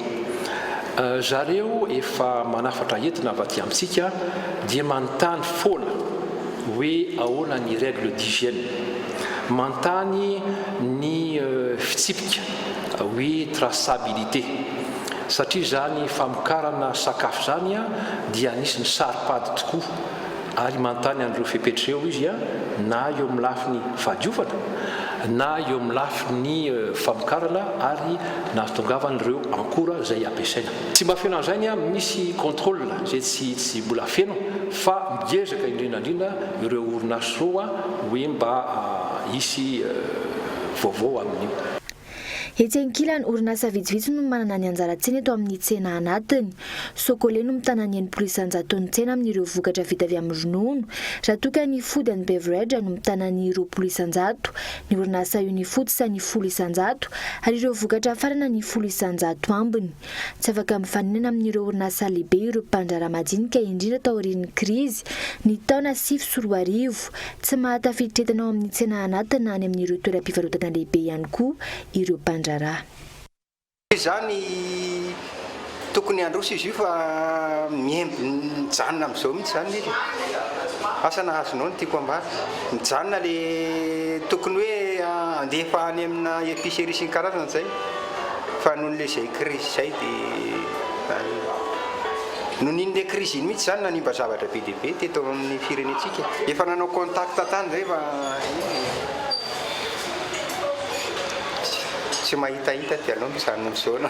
zareo efa manafatra entina avy aty amintsika dia manontany foana hoe ahoana ny règle d'hygiène, manontany ny fitsipika hoe traçabilité satria izany famokarana sakafo izany dia anisin'ny saro-pady tokoa. ary manontany an'ireo fepetra ireo izy na eo amin'ny lafiny fahadiovana na eo amin'ny lafiny famokarana ary nahatongavan'ireo ankora izay ampiasaina. Tsy mba feno an'izay ny amin'ny misy contrôle izay tsy tsy mbola feno fa miezaka indrindra indrindra ireo orinasa roa hoe mba hisy vaovao amin'io. Etsy ankilany, orinasa vitsivitsy no manana ny anjara-tsiny eto amin'ny tsena anatiny. Socole no mitana ny enimpolo isan-jaton'ny tsena amin'ireo vokatra vita avy amin'ny ronono, raha toa ka ny Food and Beverage no mitana ny roapolo isan-jato, ny orinasa Unifood sa ny folo isan-jato, ary ireo vokatra farana ny folo isan-jato ambiny. Tsy afaka mifaninana amin'ireo orinasa lehibe ireo mpandraharaha madinika indrindra taorian'ny krizy ny taona sivy sy roa arivo. Tsy mahatafiditra entana ao amin'ny tsena anaty na any amin'ireo toeram-pivarotana lehibe ihany koa ireo mpandraharaha. Toy izany, tokony handroso izy io fa miemby mijanona amin'izao mihitsy izany ny asa nahazonao ny tiako hambara. Mijanona ilay tokony hoe handefa any amina epicerie isan-karazany izay. fa noho le zay crise zay de noho iny le crise iny mihitsy zany nanimba zavatra be dia be teto amin'ny firenentsika efa nanao contact tany zay fa tsy mahitahita dia aleo mijanona misaona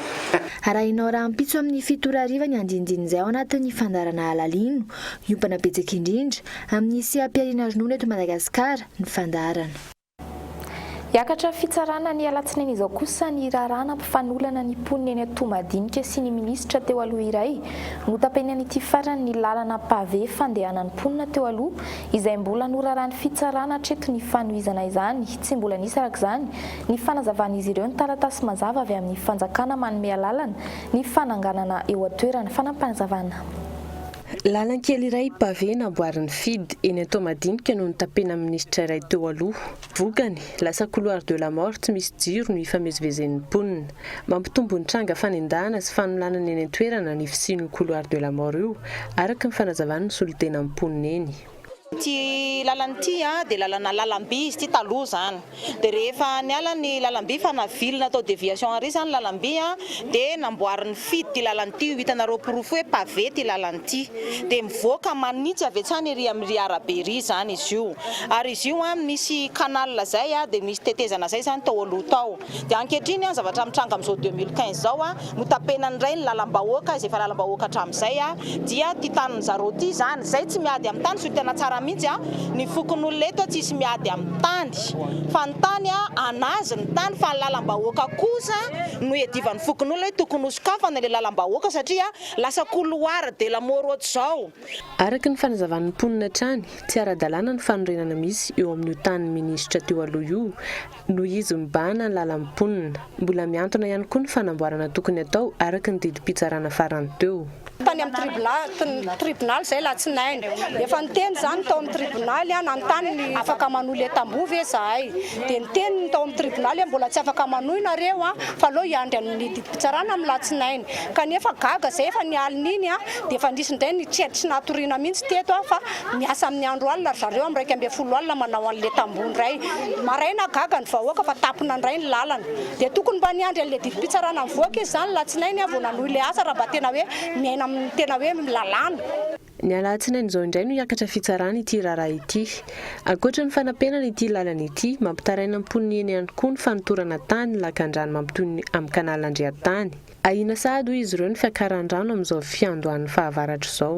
Arahinao rahampitso amin'ny fito ora hariva ny andinindiny izay ao anatin'ny fandaharana Halalino, hiompana betsaka indrindra, amin'ny seha-pihariana ronono eto Madagasikara, ny fandaharana. Hiakatra fitsarana ny alatsinainy izao kosa ny raharaha nampifanolana ny mponina eny Toamadinika sy ny minisitra teo aloha iray. Notapeny an'ity farany ny lalana pavé fandehanan'ny mponina teo aloha izay mbola noraràn'ny fitsarana hatreto ny fanohizana izany tsy mbola nisy arak'izany ny fanazavan'izy ireo ny taratasy mazava avy amin'ny fanjakana manome alalana ny fananganana eo an-toerana. Fanampazavana. Lalankely iray pavé namboarin'ny FIDH eny Antohomadinika no notapena amin'ny minisitra iray teo aloha. Vokany, lasa couloir de la mort tsy misy jiro no ifamezivezen'ny mponina. Mampitombo ny tranga fanendahana sy fanolanana eny an-toerana ny fisian'io couloir de la mort io, araka ny fanazavan'ny solontenan'ny mponina eny. Ity lalana ity dia lalana lalam-by izy ity taloha izany, dia rehefa niala ny lalam-by fa navilina tao déviation ary izany lalam-by dia namboarin'ny FID ity lalana ity, io hitanareo porofo hoe pavé ity lalana ity, dia mivoaka manitsy avy hatrany ery amin'ry arabe ery izany izy io, ary izy io misy canal izay dia misy tetezana izay izany tao aloha tao. Dia ankehitriny an, zavatra mitranga amin'izao deux mille quinze izao an, notapenany indray ny lalam-bahoaka, izay efa lalam-bahoaka hatramin'izay an, dia ity tanin'ny zareo ity izany, izay tsy miady amin'ny tany, zio tena tsara mihitsy an, ny fokonolona eto an tsisy miady amin'ny tany, fa ny tany an an'azy ny tany, fa ny lalam-bahoaka kosa no iadivan'ny fokonolona hoe tokony hosokafana ilay lalam-bahoaka satria lasa couloir de la mort ohatr'izao. Araka ny fanazavan'ny mponina hatrany, tsy ara-dalàna ny fanorenana misy eo amin'io tanin'ny minisitra teo aloha io, Nohizo mibahana ny lalan'ny mponina. Mbola mihantona ihany koa ny fanamboarana tokony atao araka ny didim-pitsarana farany teo. Tany amin'ny tribonaly izay alatsinainy. Efa niteny izany ny tao amin'ny tribonaly aho nanontany ny afaka manohy ilay tamboho ve izahay. Dia niteny ny tao amin'ny tribonaly hoe mbola tsy afaka manohy nareo fa aleo hiandry an'ny didim-pitsarana amin'ny alatsinainy. Kanefa gaga izay efa ny alin'iny dia efa nisy indray ny tsy natoriana mihitsy teto aho fa. Miasa amin'ny andro alina ry zareo, amin'ny iraika ambin'ny folo alina manao an'ilay tamboho indray. Maraina gaga ny vahoaka fa tapina indray ny lalana. Dia tokony mba niandry an'ilay didim-pitsarana mivoaka izy izany alatsinainy vao nanohy ilay asa raha mba tena hoe miaina amin'ny tena hoe lalàna. Ny alatsinainy izao indray no hiakatra fitsarana ity raharaha ity. Ankoatra ny fanapenana ity lalana ity, mampitaraina ny mponina eny ihany koa ny fanotorana tany ny lakandrano mampitohy ny amin'ny canal Andriantany. Ahiana sahady hoy izy ireo ny fiakaran'ny rano amin'izao fiandohan'ny fahavaratra izao.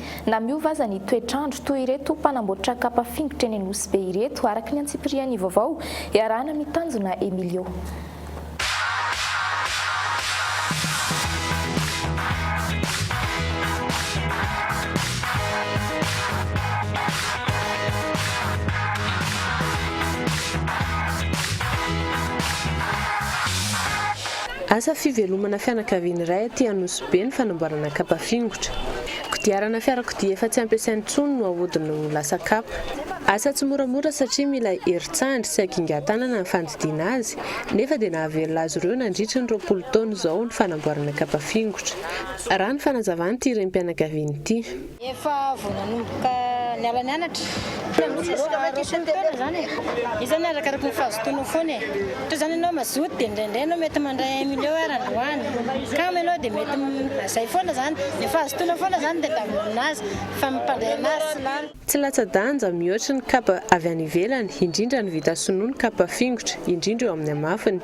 Na miova aza ny toetr'andro, toy ireto mpanamboatra kapa fingotra eny Nosy Be ireto, araka ny antsipiriany vaovao iarahana amin'ny tanjona Emilio. Asa fivelomana fianakaviana iray aty Anosibe ny fanamboarana kapa fingotra. Kodiarana fiarakodia efa tsy ampiasaina intsony no ahodiny ho lasa kapa. Asa tsy moramora satria mila herin-tsandry sy hagingan-tanana ny fandidiana azy, nefa dia nahavelona azy ireo nandritry ny roapolo taona izao ny fanamboarana kapa fingotra, raha ny fanazavan'ity renim-pianakaviana ity. Efa vao nanomboka niala nianatra izy ireo ary roapolo taona izany e! Izany arakaraky ny fahazotoana foana e! Toy izany ianao mazoto dia indraindray ianao mety mandray un million ary androany kamo ianao dia mety azay foana izany, efa azotoana foana izany ny tadiavina amin'azy fa ny mpandray an'azy tsy lany. Tsy latsa-danja mihoatry ny kapa avy any ivelany, indrindra ny vita sinoa ny kapa fingotra, indrindra eo amin'ny hamafiny.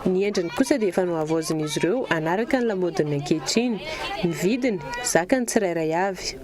Ny endriny kosa dia efa nohavaozin'izy ireo hanaraka ny lamaodin'ny ankehitriny. Ny vidiny, zakan'ny tsirairay avy.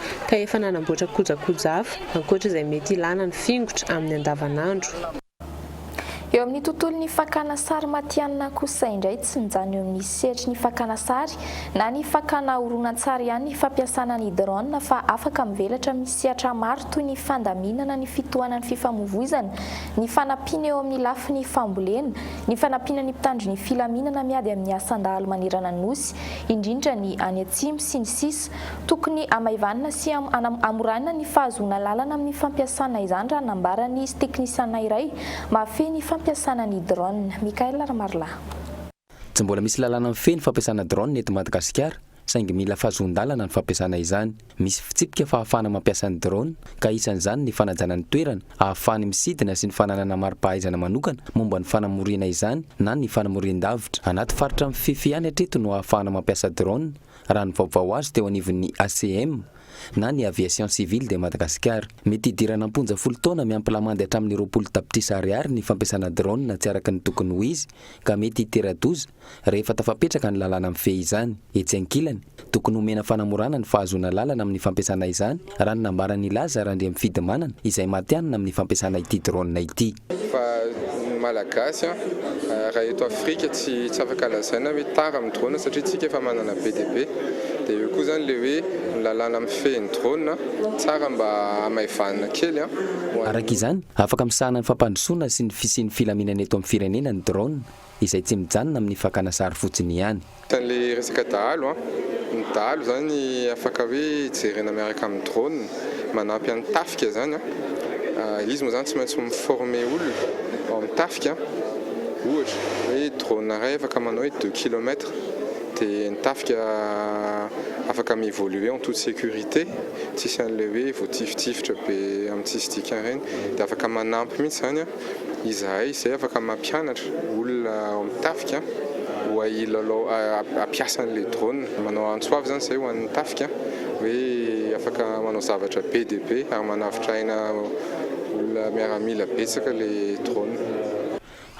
ka efa nanamboatra kojakoja hafa ankoatra izay mety ilàna ny fingotra amin'ny andavanandro. Eo amin'ny tontolon'ny fakàna sary matihanina kosa indray, tsy mijanona eo amin'ny sehatry ny fakàna sary na ny fakàna horonantsary ihany ny fampiasàna ny drone fa afaka mivelatra amin'ny sehatra maro toy ny fandaminana ny fitohanan'ny fifamoivoizana, ny fanampiana eo amin'ny lafiny fambolena, ny fanampiana ny mpitandro ny filaminana miady amin'ny asan-dahalo manerana ny Nosy, indrindra ny any atsimo, sy ny sisa. Tokony hamaivanina sy hamorana ny fahazoana alalana amin'ny fampiasana izany raha nambaran'izy teknisiana iray mahafehy ny fampiasana ny drone. Mickaël Ramarolahy. Tsy mbola misy lalàna mifehy ny fampiasana drone eto Madagasikara saingy mila fahazoan-dalana ny fampiasana izany. Misy fitsipika fahafahana mampiasa ny drone ka isan'izany ny fanajana ny toerana ahafahany misidina sy ny fananana mari-pahaizana manokana momba ny fanamoriana izany na ny fanamorian-davitra. Anaty faritra mifefy ihany hatreto no ahafahana mampiasa drone Raha ny vaovao azo teo anivon'ny ACM, na ny Aviation Civile de Madagascar, mety hidirana am-ponja folo taona miampy lamandy hatramin'ny roapolo tapitrisa ariary ny fampiasana drone tsy araka ny tokony ho izy ka mety hitera-doza rehefa tafapetraka ny lalàna mifehy izany. Etsy ankilany, tokony homena fanamorana ny fahazoana lalana amin'ny fampiasana izany raha ny nambaran'i Laza Randriamifidimanana izay matihanina amin'ny fampiasana ity drone ity. Fa ny Malagasy raha eto Afrika tsy tsy afaka lazaina hoe tara amin'ny drone satria tsika efa manana be dia be. Dia eo koa izany ilay hoe ny lalàna mifehy ny drone, tsara mba hamaivanina kely an. Araka izany, afaka misahana ny fampandrosoana sy ny fisian'ny filaminana eto amin'ny firenena ny drone. izay tsy mijanona amin'ny fakana sary fotsiny ihany. Tale resaka dahalo an! Ny dahalo izany afaka hoe jerena miaraka amin'ny drone manampy an'ny tafika izany an! Izy moa izany tsy maintsy mi-former olona ao amin'ny tafika an! Ohatra hoe drone iray afaka manao hoe deux kilomètres dia ny tafika afaka mi-evoluer en toute sécurité tsisy an'ilay hoe voatifittifitra be amin'ny tsisy dikany ireny dia afaka manampy mihitsy izany an! Izahay izay afaka mampianatra olona ao amin'ny tafika hoe hilalao, hampiasa an'ilay drone. Manao antso avy izany izay ho an'ny tafika hoe afaka manao zavatra be dia be ary manavotra aina olona miaramila betsaka ilay drone.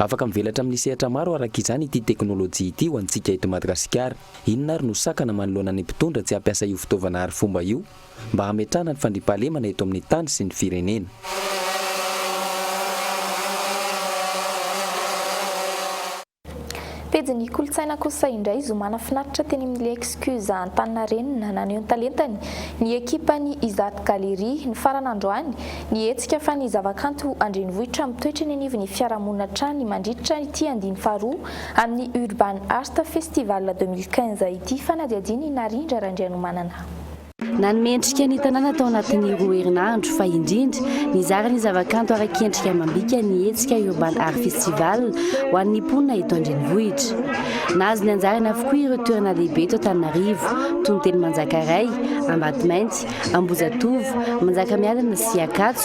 Afaka mivelatra amin'ny sehatra maro araka izany ity teknolojia ity ho antsika eto Madagasikara. Inona ary no sakana manoloana ny mpitondra tsy hampiasa io fitaovana arifomba io? mba hametrahana ny fandriampahalemana eto amin'ny tany sy ny firenena. Pejin'ny kolontsaina kosa indray zoma nafinaritra teny amin'ny L'excuse Antaninarenina naneho ny talentany ny ekipan'ny Izat Galerie nifarana androany ny hetsika fa ny zavakanto an-drenivohitra mitoetra eny anivon'ny fiarahamonina hatrany mandritra ity andiany faharoa amin'ny Urban Art Festival deux mille quinze ity fanadihadian'i Narindra Raindrianomanana. Nanome endrika ny tanàna tao anatin'ny roa herinandro fa indrindra nizara ny zavakanto ara-kendrika amam-bika ny hetsika Urban Art Festival ho an'ny mponina eto an-drenivohitra. Nahazo ny anjarany avokoa ireo toerana lehibe eto Antananarivo toy ny teny Manjakaray, Ambatomainty, Ambohijatovo, Manjakamiadana sy Ankatso.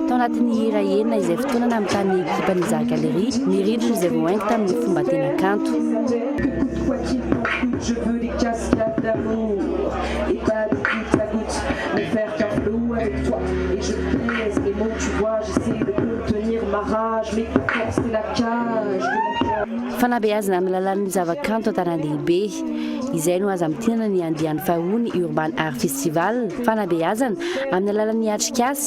Tao anatin'ny hira enina izay fotoana nanontany ny ekipan'ny Zary Galerie ny rindrina izay voahaingo tamin'ny fomba tena kanto. Fanabeazana amin'ny alalan'ny zavakanto an-tanan-dehibe. Izay no aza mitinana ny andiany faharoan'ny Urban Art Festival, Fanabeazana amin'ny alalan'ny atrikasa.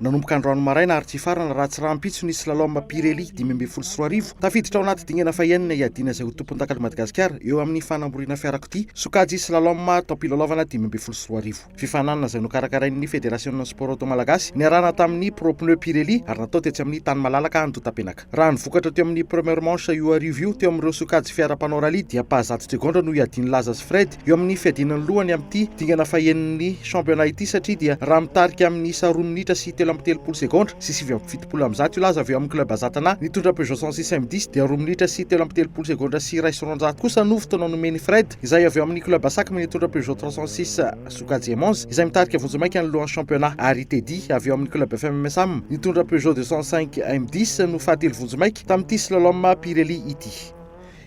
Nanomboka androany maraina ary tsy hifarana raha tsy rahampitso ny slalom Pirelli dimy ambin'ny folo sy roa arivo. Tafiditra ao anaty dingana fahenina hiadiana izay ho tompondakan'i Madagasikara eo amin'ny fanamoriana fiarakodia sokajy slalom taom-pilalaovana dimy ambin'ny folo sy roa arivo. Fifaninanana izay nokarakarain'ny Federasionin'ny Sport Auto Malagasy niarahana tamin'ny Pro Pneus Pirelli ary natao tetsy amin'ny tany malalaka Andotapenaka. Raha ny vokatra teo amin'ny première manche io hariva io teo amin'ireo sokajy fiara mpanao rallye dia mpahazatsy Tregondra no hiadian'i Laza sy Fred eo amin'ny fiadiana ny lohany amin'ity dingana fahenin'ny championnat ity satria dia raha mitarika amin'ny isa roa minitra sy telo amby telopolo segondra sy sivy amby fitopolo amby zato io Laza avy eo amin'ny club Azatana nitondra Peugeot 106 Semdis dia roa minitra sy telo amby telopolo segondra sy iray sy roanjato kosa no fotoana nomen'i Fred izay avy eo amin'ny club Asakm nitondra Peugeot 306 Sokajy Emons izay mitarika vonjimaika ny lohan'ny championnat ary Teddy avy ao amin'ny club FMMSAM nitondra Peugeot deux cent cinq M dix no fahatelo vonjimaika tamin'ity slalom Pirelli ity.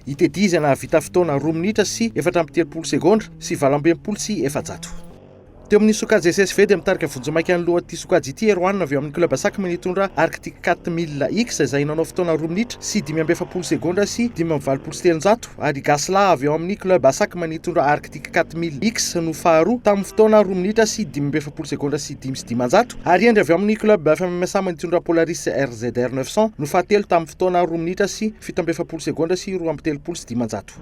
I Teddy izay nahavita fotoana roa minitra sy efatra amby telopolo segondra sy valo amby enimpolo sy efajato. Teo amin'ny sokajy SSV dia mitarika vonjimaika ny lohan'ity sokajy ity Erwan avy ao amin'ny club Sacm nitondra Arctic quatre mille X izay nanao fotoana roa minitra sy dimy amby efapolo segondra sy dimy amby valopolo sy telonjato Adi Ghasla avy ao amin'ny Club Asac manitondra Arctic 4000X no faharoa tamin'ny fotoana roa minitra sy dimy amby efapolo segondra sy dimy sy dimanjato ary Hendry avy ao amin'ny Club FMMSA manitondra Polaris RZR 900 no fahatelo tamin'ny fotoana roa minitra sy fito amby efapolo segondra sy roa amby telopolo sy dimanjato.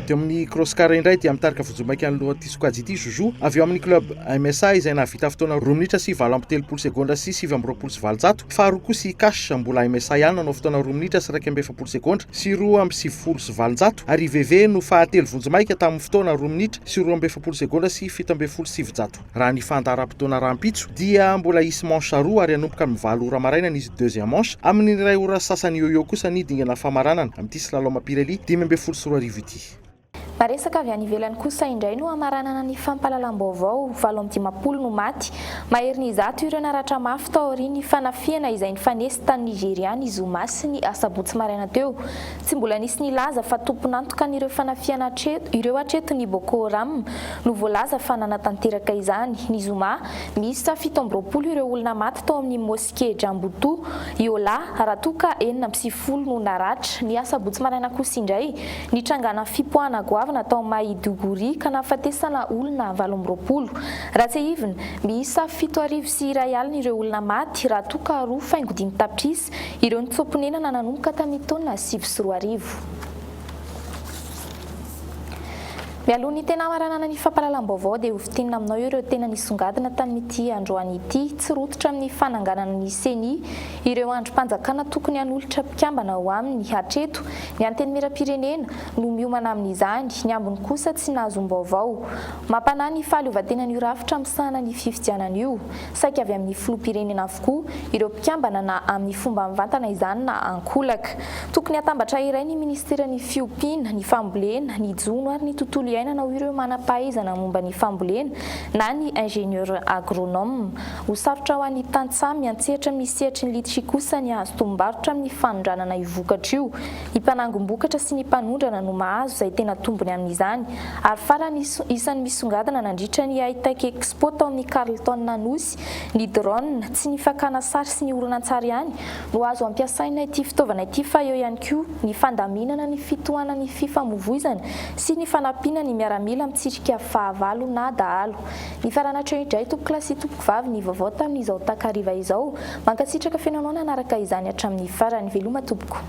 Teo amin'ny cross-car indray dia mitarika vonjimaika ny loha Sokajiti Juju, avy eo amin'ny club MSA izay nahavita fotoana roa minitra sy valo amby telopolo segondra sy sivy amby roapolo sy valonjato, faharoa kosa i Cash, mbola MSA ihany nanao fotoana roa minitra sy iraika amby efapolo segondra sy roa amby sivifolo sy valonjato ary i Veve no fahatelo vonjimaika tamin'ny fotoana roa minitra sy roa amby efapolo segondra sy fito ambin'ny folo sy sivinjato. Raha ny fandaharam-potoana rahampitso dia mbola hisy manche roa ary hanomboka amin'ny valo ora maraina ny deuxième manche, amin'ny iray ora sy sasany eo ho eo kosa ny dingana famaranana amin'ity slalom Pirelli dimy ambin'ny folo sy roa arivo ity. Maresaka avy any ivelany kosa indray no hamaranana ny fampahalalam-baovao, valo amby dimampolo no maty, maherin'ny zato ireo naratra mafy tao aorian'ny fanafihana izay nifanesy tany Nigeria ny zoma sy ny asabotsy maraina teo. Tsy mbola nisy nilaza fa tompon'antokan'ireo fanafihana hatreto ireo hatreto ny Boko Haram no voalaza fa nanatanteraka izany. Ny zoma, miisa fito amby roapolo ireo olona maty tao amin'ny Tsikejambotoa, Yola, raha toa ka enina amby sivifolo no naratra. Ny asabotsy maraina kosa indray, nitrangana fipoahana goavana tao Maiduguri ka nahafatesana olona valo amby roapolo. Raha tsiahivina, miisa fito arivo sy iray alina ireo olona maty, raha toa ka roa faingo dimy tapitrisa ireo nitsoa-ponenana nanomboka tamin'ny taona sivy sy roa arivo. Mialoha ny tena hamaranana ny fampahalalam-baovao dia hofintinina aminao ireo tena nisongadina tamin'ity androany ity. Tsy rototra amin'ny fananganana ny Ceni ireo andrim-panjakana tokony hanolotra mpikambana ao aminy hatreto. Ny Antenimierampirenena no miomana amin'izany, ny ambiny kosa tsy nahazoam-baovao. Mampanahy ny fahaleovantenan'io rafitra misahana ny fifidianana io. Saika avy amin'ny filoham-pirenena avokoa ireo mpikambana na amin'ny fomba mivantana izany na an-kolaka. Tokony hatambatra iray ny minisiteran'ny fiompiana, ny fambolena, ny jono ary ny tontolo iainana ho ireo manam-pahaizana momba ny fambolena na ny ingénieur agronome. Ho sarotra ho an'ny tantsaha miantsehatra amin'ny sehatry ny litchi kosa ny hahazo tombombarotra amin'ny fanondranana io vokatra io. Ny mpanangom-bokatra sy ny mpanondrana no mahazo izay tena tombony amin'izany. Ary farany, isan'ny misongadina nandritra ny Hightech Expo tao amin'ny Carlton Anosy, ny drone, tsy ny fakana sary sy ny horonantsary ihany no azo ampiasaina ity fitaovana ity fa eo ihany koa ny fandaminana ny fitohanan'ny fifamovoizana sy ny fanampiana ny miaramila mitsirika fahavalo na dahalo. Nifarana hatreo indray tompoko lahy sy tompoko vavy ny vaovao tamin'izao takariva izao. Mankasitraka feno anao nanaraka izany hatramin'ny farany. Veloma tompoko.